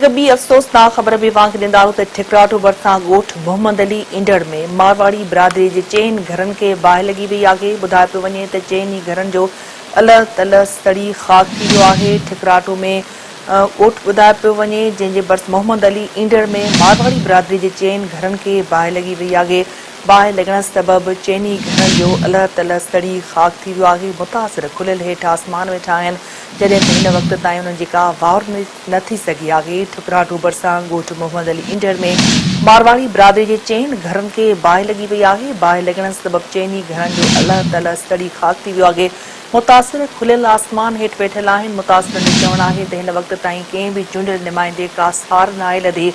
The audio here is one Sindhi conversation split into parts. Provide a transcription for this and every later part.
هڪ ٻي افسوسناڪ خبر به اوهان کي ڏيندارون ته ٺڪراٺو ڀرسان ڳوٺ محمد علي اينڊڙ ۾ مارواڙي برادري جي چئن گهرن کي باهه لڳي وئي آهي ٻڌايو پيو وڃي ته چئن ئي گهرن جو الهه تلهه سڙي خاڪ ٿي ويو آهي ٺڪراٺو ۾ ڳوٺ ٻڌايو پيو وڃي جنهن جي ڀرس محمد علي اينڊڙ ۾ مارواڙي برادري جي چئن گهرن کي باهه لڳي وئي آهي باهه لڳڻ سبب چئن ئي گهرن جو الهه تلهه سڙي خاڪ ٿي ويو آهي متاثر کليل هيٺ آسمان ويٺا آهن جڏهن ته هن وقت تائين انهن جي ڪا واء نه ٿي سگهي آهي، ٺڪراٺو ڀرسان ڳوٺ محمد علي انڊر ۾ مارواڙي برادري جي چئن گهرن کي باهه لڳي وئي آهي، باهه لڳڻ سبب چئن ئي گهرن جو الهه تلهه سڙي خاڪ ٿي ويو آهي، متاثر کليل آسمان هيٺ ويٺل آهن، متاثرن جو چوڻ آهي ته هن وقت تائين ڪنهن به چونڊيل نمائندي ڪا سار ناهي لڌي،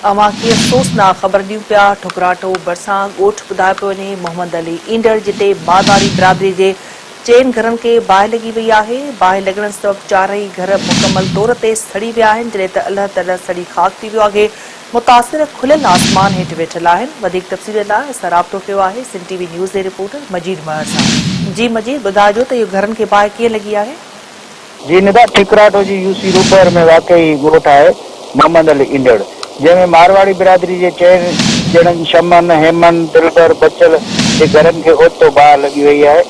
اوهان ڪي افسوسناڪ خبر ڏيون پيا، ٺڪراٺو ڀرسان ڳوٺ ٻڌايو پيو وڃي محمد علي انڊر جتي مارواڙي برادري جي چئن گهرن کي باهه لڳي وئي آهي، باهه لڳڻ سبب چارئي گهر مڪمل طور تي سڙي ويا آهن، جڏهن ته الهه ترهه سڙي خاڪ ٿي ويو آهي، متاثر کليل آسمان هيٺ ويٺل آهن، وڌيڪ تفصيلن لاء اسان رابطو ڪيو آهي، سنڌ ٽي وي نيوز جي رپورٽر مجيد مهر سان. جي مجيد، ٻڌائجو ته اهو گهرن کي باهه ڪيئن لڳي آهي؟ جي ندا ٺڪراٺو جي يو سي روپهر ۾ واقع هي ڳوٺ آهي محمد علي ايندڙ جنهن ۾ مارواڙي برادري جي چئن ڄڻن شمن، هيمن، دلبر، بچل جي گهرن کي اوچتو باهه لڳي وئي آهي،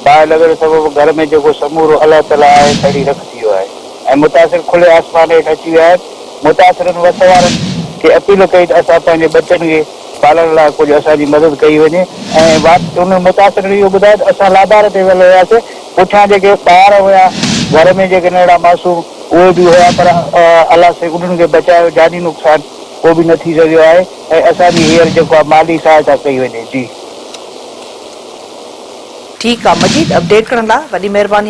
باهه لڳڻ سبب گهر ۾ جيڪو سمورو الا تلا آهي سڙي رک ٿي ويو آهي ۽ متاثر کلي آسمان هيٺ اچي ويا آهن، متاثرن وس وارن کي اپيل ڪئي ته اسان پنهنجي ٻچن کي. پالڻ لاء ڪجهه اسان جي مدد ڪئي وڃي ۽ واپس ان متاثر اهو ٻڌايو ته اسان لابار تي ويل هياسين پٺيان جيڪي ٻار هيا گهر ۾ جيڪي ننڍڙا معصوم اهي به هيا پر الله سائين انهن کي بچايو جاني نقصان ڪو به نه ٿي سگهيو آهي ۽ اسان جي هيئر جيڪو آهي مالي سهائتا ڪئي وڃي جي. ٺيڪ آ مجيد اپڊيٽ ڪرڻ لا وڏي مھرباني.